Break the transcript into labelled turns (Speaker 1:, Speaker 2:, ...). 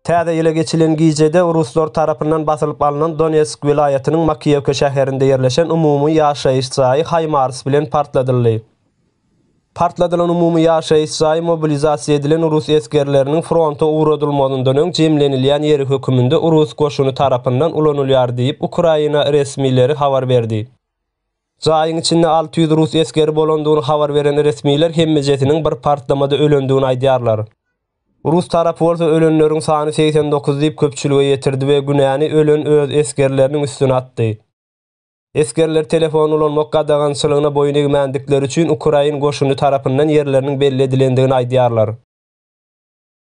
Speaker 1: Täze ýyla geçilen gijede ruslar tarapyndan basylyp alnan Donetsk welaýatynyň Makiýewka şäherinde ýerleşen umumy ýaşaýyş jaýy HIMARS bilen partladyldy. Partladylan umumy ýaşaýyş jaýy mobilizasiýa edilen rus esgerleriniň fronta ugradylmazyndan öň jemlenilýän ýeri höküminde rus goşuny tarapyndan ulanylýar diýip, Ukraina resmileri habar berdi. Jaýyň içinde alty ýüz rus esgeri bolandygyny habar beren resmiler hemmejesiniň bir partlamada ölendigini aýdýarlar. Rus tarapy bolsa ölenleriň sany segsen dokuz diýip köpçülige ýetirdi we günäni ölen öz esgerleriniň üstüne atdy. Esgerler telefon ulanmak gadagançylygyna boýun egmändikleri üçin ukrain goşuny tarapyndan ýerleriniň belli edilendigini aýdýarlar.